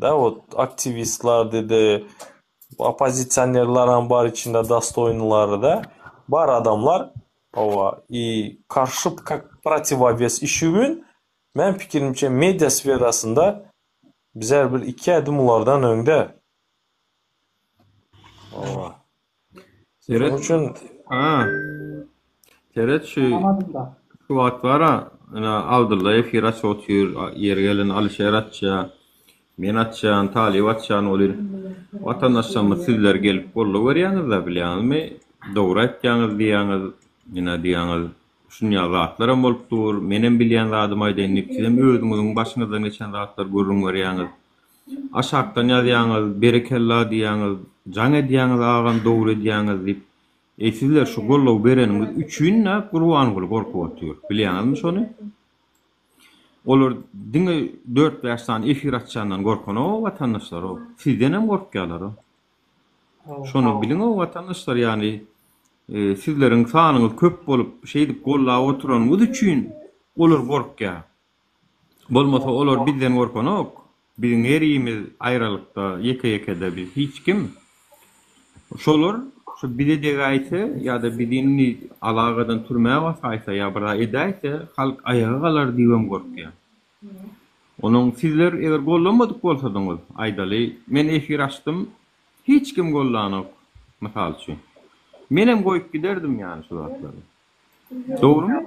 Da wot aktiwistlar dedi oppozisionerlaram bar içinde dostoýnylary da bar adamlar owa i karşy kak protiwowes işi gün men pikirimçe media sferasynda bizar bir iki ädim ulardan öňde owa. Seret şu. Ha. Seret şu. Şu wagt bara, ana Abdulla efir aç otyr, ýeri gelen Alişer açja. Men açjan, Talyp açjan bolýar. Watandaşlarymyz sizler gelip golla görýäňiz-de, bilýäňizmi? Dogry aýtýaňyz diýýäňiz, ýene diýýäňiz, şunýa zatlar hem bolup dur. Men hem bilýän zadymy aýdaýyn diýip, siz hem özüňiziň başyňyzdan geçen zatlary gürrüň berýäňiz. Aşakdan ýazýaňyz, berekella diýýäňiz, jaň edýäňiz agam dogry edýäňiz diýip. Eý sizler şu goldaw bereniňiz üçin-ä Gurbanguly gorkup otyr. Bilýäňizmi şony? Olar diňe dört-bäş sany efir açýandan gorkanok-ow watandaşlar-ow. Sizdenem gorkýalar-ow. Şony biliň-ow watandaşlar ýagny sizleriň sanyňyz köp bolup şeýdip goldap oturanyňyz üçin olar gorkýar. Bolmasa olar bizden gorkanok. Biziň her imiz aýralykda, ýeke-ýekede biz hiç kim. Şolar şu bize degäýse ýa-da bizi indi alagadan türmä basaýsa ýa birzat edäýse, halk aýaga galar diýibem gorkýan. Onuň sizler eger gollamadyk bolsadyňyz, aýdaly, men efir açdym, hiç kim gollanok, mysal üçin. Menem goýup giderdim ýany şu zatlary. Dogrumy?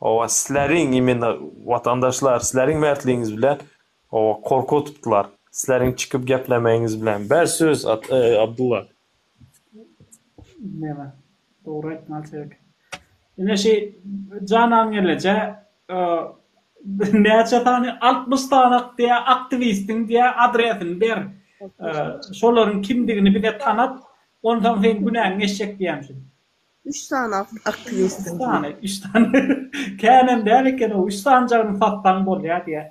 Oba sisleriň imeni watandaşlar sisleriň mertligiňiz bilen oba korku tutdylar sisleriň çykyp geplemegiňiz bilen ber söz Abdulla. Näme dogry aýtmaly sebek. Ine şi janan gelejä näçe sany altmyş sany aktiä aktiwistiň diä adresini ber şolaryň kimdigini bize tanat onsaň seň günäň geçjek diämşin. Üç sany aktiwistiň diýip. Üç sany, üç sany. Känem däl eken o, üç sanjagyny satsaň bolýar diýýär.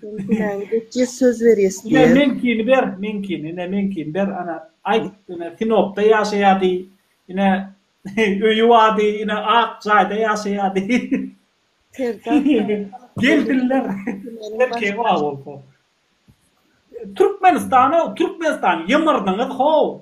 Sen günäňi dökýäs, söz berýäs diýýär. Ine, meňkini ber, meňkini, ine, meňkini ber, ana, aýt, ine, Sinopda ýaşaýar diý, ine, öýi bar diý, ine, ak jaýda ýaşaýar diý. Serdar Sarymyrat. Geldiler. Erkegiň bagy bolsa. Türkmenistan-ow, Türkmenistan, ýymyrdyňyz-how!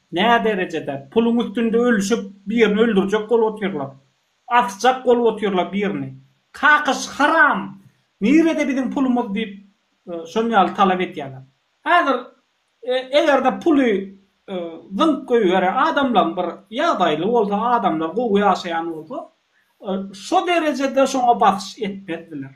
Näderejede puluň üstünde ölüşip birini öldürjek bolup otyrlar. Asjak bolup otyrlar birini. Kakyş haram! Nirede biziň pulumyz diýip şon ýaly talap edýärler. Häzir egerde puly zyňk goýberen adamlaň bir ýagdaýly bolsa adamlar gowy ýaşaýan bolsa şo derejede şoňa basyş etmezdiler.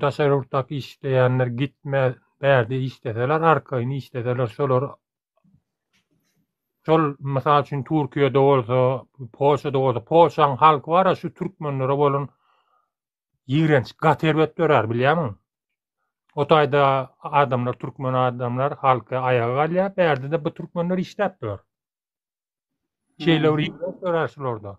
Daşary ýurtdaky işleýänler gitme bärde işleseler, arkaýyn işleseler, şolar şol mysal üçin Türkiýede bolsa, Polşada bolsa, Polşanyň halky bar şu türkmenlere bolan ýigrenç, gat erbet dörär bilýärmiň? O taýda adamlar, türkmen adamlar halky aýaga galýar, bärde-de bu türkmenler işläp dur. Şeýle bir ýigrenç dörär şularda.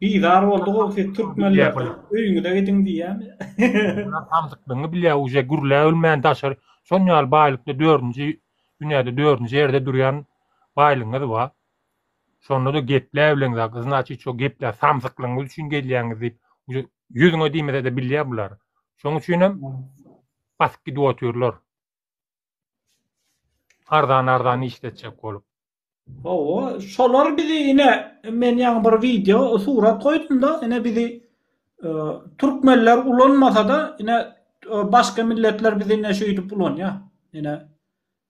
Bizar boldy gowy ses türkmenler öýüňize gidiň diýýämi. Samsyklygyňy bilýä uje gürlä ölmän daşary şon ýaly baýlykda dördünji dünýäde dördünji ýerde durýan baýlygyňyz ba. Şonda-da geplä bilen za znaçit şo geplä samsyklygyňyz üçin gelýäňiz diýip uje ýüzüňe diýmesede bilýä bular. Şoň üçinem basyp gidip otyrlar. Arzan arzan işletjek bolup. Hawa, şolar bizi ine men ýaňy bir wideo, surat goýdum-da, ine bizi e, türkmenler ulanmasa-da, ine e, başga milletler bizi ine şeýdip ulanýar. Ine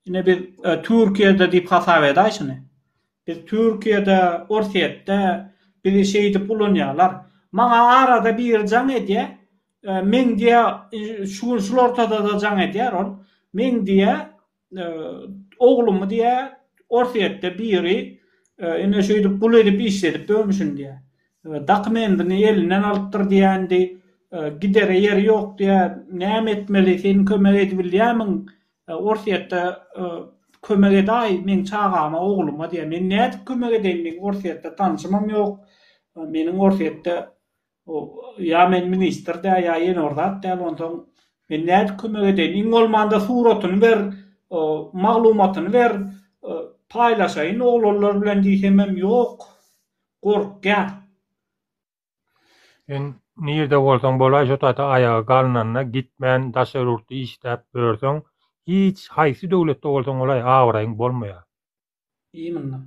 ine biz e, Türkiýede diýip hasap edäý şuny. Biz Türkiýede, Orsýetde bizi şeýdip ulanýarlar. Maňa arada biri jaň edýär. E, men diýä şu gün şul ortada-da jaň edýär ol. Men diýä Oglumy diýä, Orsýetde biri ine şeýdip gul edip işledip döwmüşin diýä. Dakumendini elinden alypdyr diýändi. Gidere ýeri ýok diýä. Näme etmeli, sen kömek edibilýämiň? Orsýetde kömek edaý meň çagama, ogluma diýä. Men nädip kömek edeýin, meň Orsýetde tanşymam ýok. Meniň Orsýetde Ýa men ministr däl, ýa ýene bir zat däl, onsoň men nädip kömek edeýin? Iň bolmanda suratyny ber, maglumatyny ber, paýlaşaýyn oglanlar bilen diýsemem, ýok, gorkýar. Sen nirde bolsaň bolaý, şo taýda aýagy galnanda gitmän daşary ýurtda işläp ýörseň, hiç haýsy döwletde bolsaň bolaý, abraýyň bolmaýar. Imенно.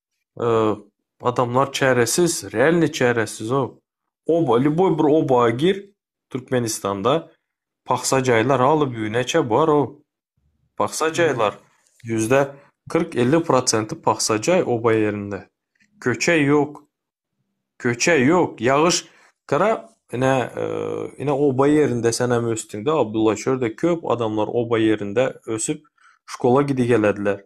adamlar çäresiz, realny çäresizow. Oba, lýuboý bir oba gir Türkmenistanda, pagsa jaýlar aly-büneçe bar-ow. Pagsa jaýlar, ýüzde kyrk-elli prosenti pagsa jaý oba ýerinde. Köçe ýok. Köçe ýok. Ýagyş gara, ine, ine oba ýerinde senem ösdüňde, Abdulla, şu ýerde köp adamlar oba ýerinde ösüp, şkola gidigelediler.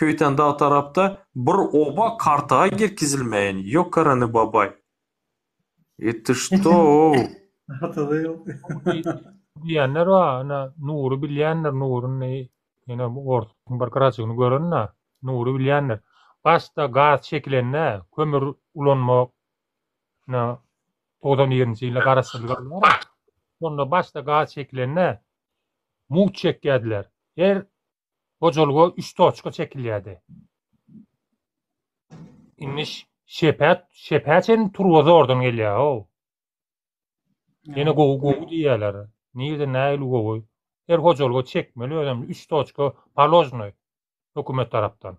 Köýten dag tarapda bir oba kartaga girkizilmeýin ýoka rany babaý. Eti ştoo. Hatada ýok. Diýenler bar ýöne Nury bilýändir Nuryny ýöne bu orsuň bir gyracygyny görenda Nury bilýändir. Başda gaz çekilende kömür ulanma na togsan birinji ýylda garaşsyzlyk alýara. Şonda başda gaz çekilende mugt çekýärdiler. Her Hojalyga üç toçka çekilýärdi. Indi şepä, şepä çen turba zordan gelýär-ow. Ýene gowy gowy diýýärler. Nirde nähili gowy? Her hojalyga çekmeli özem üç toçka paložnoý hökümet tarapdan.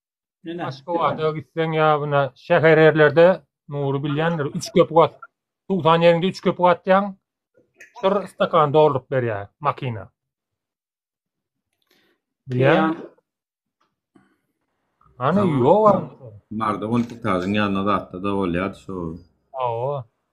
Mine. Aşgabada gitseň ýa buna şäher ýerlerde Nury bilýändir. Üç köpük at. Tutan ýeriňde üç köpük atýaň. Şur stakan dolduryp berýär makina. Bilýän. Ana ýok. Barda on tutazyň ýanyna zatda da bolýar şu. Awa.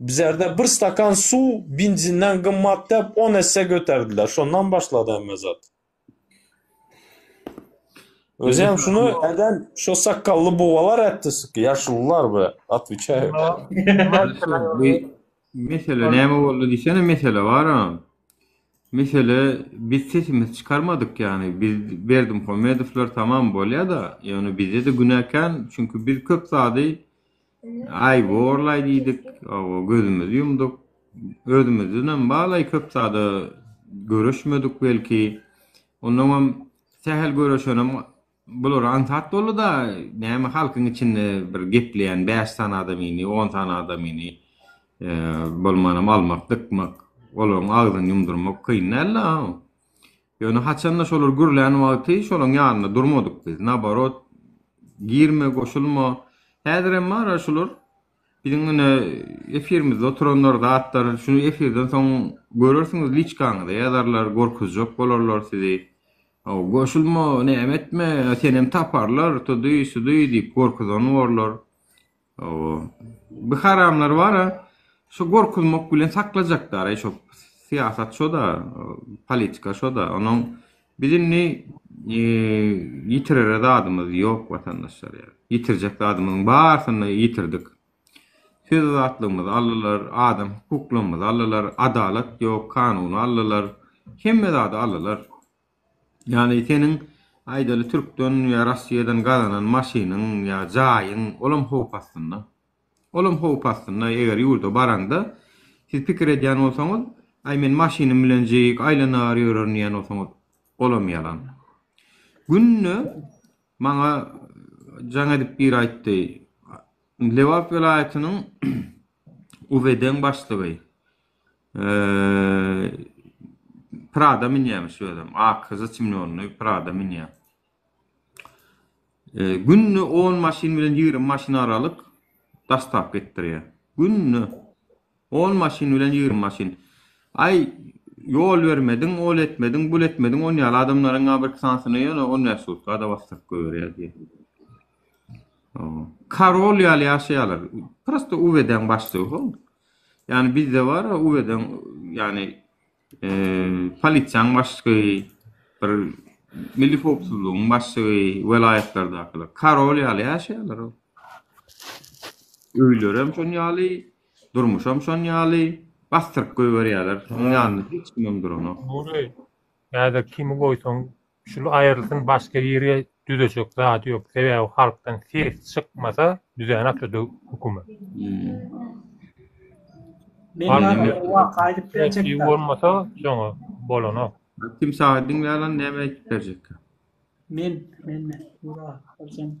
Bizerde bir stakan suw binzinden gymmat dep on esse göterdiler. Şondan başlady hemme zat. Özi hem şunu eden şu sakkally bugalar etdi sıkı yaşlılar be atwiçay. Mesele näme boldy diýsene mesele bar ha. Mesele biz sesimiz çykarmadyk ýagny biz Berdimuhamedowlar tamam bolýa-da ýöne bizde-de günäkän çünki biz köp zady Aý borlaý diýdik, oba gözümizi ýumduk. Özümizdenem balaý köp zada göreşmedik belki. Onnoňam sähel göreşenem bular aňsat boldy-da, näme halkyň içinde bir gepleýän bäş sany adamyny, on sany adamyny bolmanam almak, dykmak, olaryň agzyny ýumdurmak kyn däl-de. Ýöne haçanda şolar gürlän wagty şolaň ýanynda durmadyk biz, naborot, girme, goşulma. Häzirem bar-a şular. Biziň ine efirimizde oturanlar zatlar, şuny efirden soň görersiňiz liçkaňyza ýazarlar, gorkuzjak bolarlar sizi. Hawa, goşulma, näme etme, senem taparlar, tudy, sudy diýip gorkuzan borlar. Hawa. Bu haramlar bara şu gorkuzmak bilen saklajakdar-aý şo syýasat şo-da, politika şo-da. Onuň biz indi ýitirere zadymyz ýok watandaşlar ýa. Ýitirjek zadymyzyň barysyny ýitirdik. Söz azatlygymyzy aldylar, adam hukuklarymyzy aldylar, adalat ýok, kanuny aldylar, hemme zady aldylar. Ýagny seniň aýdaly türkden ýa rossiýadan gazanan maşynyň ýa jaýyň olam howp astynda. Olam howp astynda eger ýurda baraňda siz pikir edýän bolsaňyz aý men maşynym bilenjik aýlanagar ýörerin diýýän bolsaňyz olam ýalan. Günde maňa jaň edip biri aýtdy Lebap welaýatynyň UWD-niň başlygy. Prada münýämiş özem. Ak zçimlonly Prada münýär. Günde on maşyn bilen ýigrimi maşyn aralyk dastap etdirýär. Günde on maşyn bilen ýigrimi maşyn. Aý, ýol bermediň, ol etmediň, bul etmediň, on ýaly adamlaryň bir iki sanysyny ýöne on bäş sutka-da basdyryp goýberýär diýýär. Karol ýaly ýaşaýarlar. Prosta UWD-niň başlygy hol. Ýani bizde bar uweden ýani polisiýanyň başlygy bir milli howpsuzlygyň başlygy welaýatlardakylar karol ýaly ýaşaýarlar ol öýlerem şon ýaly durmuşam şon ýaly basdyryp goýberýärler şoň ýanynda hiç kimem duranok. Nury häzir kimi goýsaň Şul aýrylsyn başga ýere düzejek zady ýok sebäbi halkdan ses çykmasa düzänokda döw hökümet. Presiw bolmasa şoňa bolanok. Kim saga diňlärler näme aýdyp berjek. Men men men.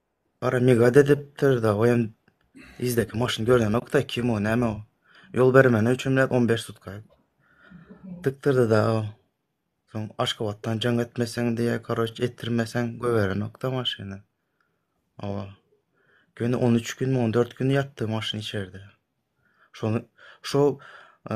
Gara migad edipdir da oýam izdeki maşyny görnenok da kim o näme o. Ýol bermeni üçin bilen 15 sutka. Dikdirdi da o. Soň Aşgabatdan jaň etmeseň diýe, koroç etdirmeseň göberenok da maşyny. Awa. Göni 13 gün, 14 gün ýatdy maşyn içerde. Şony şo e,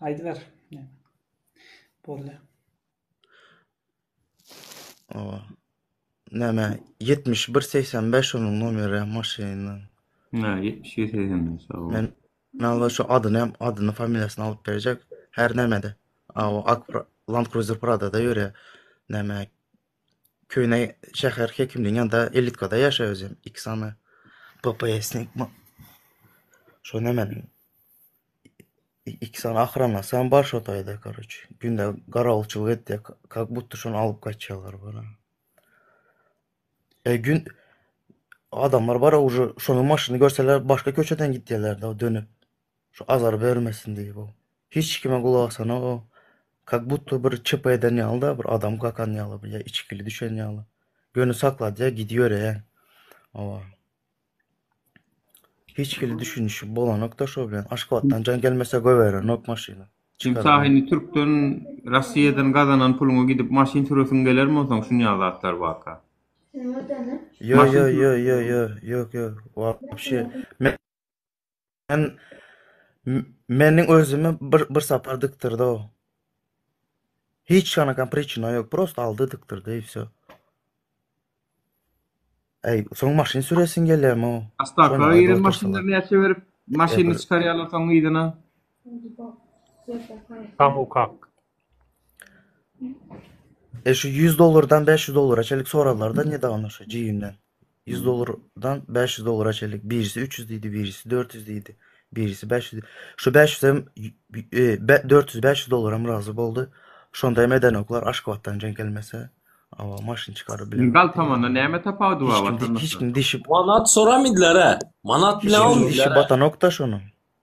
Aýdyber. Boldy. Owa. Näme? 7185 onuň nomeri maşynyň. Nä, 7185 sag bol. Men näme şu adyny hem, adyny, familiýasyny alyp berjek. Her nämede. Aw, Land Cruiser Prada-da ýörýär. Näme? Köne şäher hekimligiň ýanynda elitkada ýaşap özüm iki sany PPS-nik şony men iki sany ahranasam bar şo taýda karoç. Günde garawulçylyk etdik. Kak butda şony alyp gaçýarlar bana. E gün adamlar bar uje şony maşyny görseler başga köçeden gitýärler da dönüp. Şu azar bermesin diýip o. Hiç kime gulak asanok o. Kak butto bir çyp eden ýaly-da, bir adam kakan ýaly bir ýa içgili düşen ýaly. Göni sakladýa gidiberýän. Oba. Hiç hili düşünişi bolanok-da şo bilen. Aşgabatdan jaň gelmese goýberenok maşyny. Sen Çykaran. Sahyny Türkden, Rossiýadan gazanan puluňa gidip maşyn süresiň gelermi onsoň şunýaly zatlar barka? Ýo, Maşyn ýo, ýo, sürüp ýo, ýo, ýok, ýok, wapşe. Men Sen meniň özümi bir bir sapar diktirdi o. Hiç kana kan pričina yok. Prosta aldı diktirdi i все. Ey, son maşin süresin geler mi o? Astaka ýeren maşynlar näçe berip maşyny çykarýarlar soň yzyna. Tam ukak. E şu 100 dolardan 500 dolara çelik soralar da ne davno şu ciyimden. 100 dollardan 500 dollara çenlik. Birisi 300 diýdi, birisi 400 diýdi, birisi 500. Şu 500 hem 400-500 e, dollara hem razy boldy. Şonda hem edenoklar Aşgabatdan jeň gelmese, awa maşyn çykaryp bilen. Gal tamanda näme tapawudy bar? Hiç kim dişip. Manat soramydylar-a? Manat bilen almydylar. Hiç batanok da şonuň.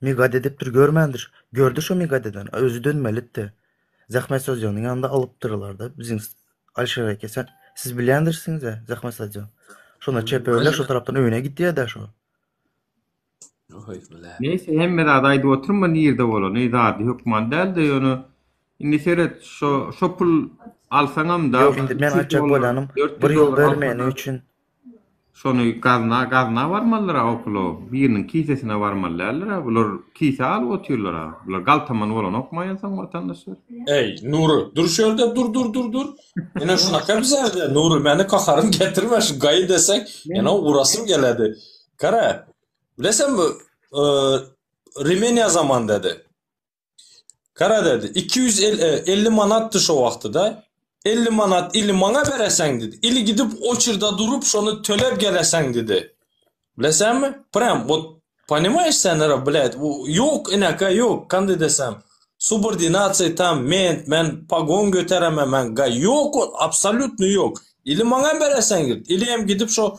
Migade edipdir, görmändir. Gördi şo Migadeden, özi dönmelidi-de, Zähmet Sazjanyň ýanynda alypdyrlar-da, biziň Alyşir eke, sen, siz bilýändirsiňiz-ä, Zähmet Sazjan. Şonda çeperler şo tarapdan öýüne gidýär-dä şo. Neýse, hemme zady aýdyp oturma, nirde bolan, eý, zady hökman däl-de, ýöne, indi seret, şo, şo pul alsaňam-da, Ýok, indi men aýtjak bolýanym, bir ýol ber meniň üçin, Şony gazna gazna barmalydyra okolo biriniň kisesine barmaly däldir-ä bular kise alyp otyrlar-a bular galtaman bolanokma ensaň watandaşlar. Eý Nury dur şerde dur dur dur dur ene şunaka bizede Nury meni kaharym getirme şu gaýy deseň ene urasym geledi gara bilesemmi Rimeniýa zaman dedi. Gara dedi, iki ýüz elli manatdy şo wagty-da. Elli manat ili maňa bereseň, dedi. Ili gidip oçerda durup, şony tölep geleseň, dedi. Bileseňmi? Prýam, wot, ponimaýeş sen, ara, blet, ýok, inaka, ýok, kand edesem, subordinasiýa tam, men, men pagon göteremem, men ga, ýok ol, absolýutno ýok. Ili maňa bereseň, dedi. Ili hem gidip şo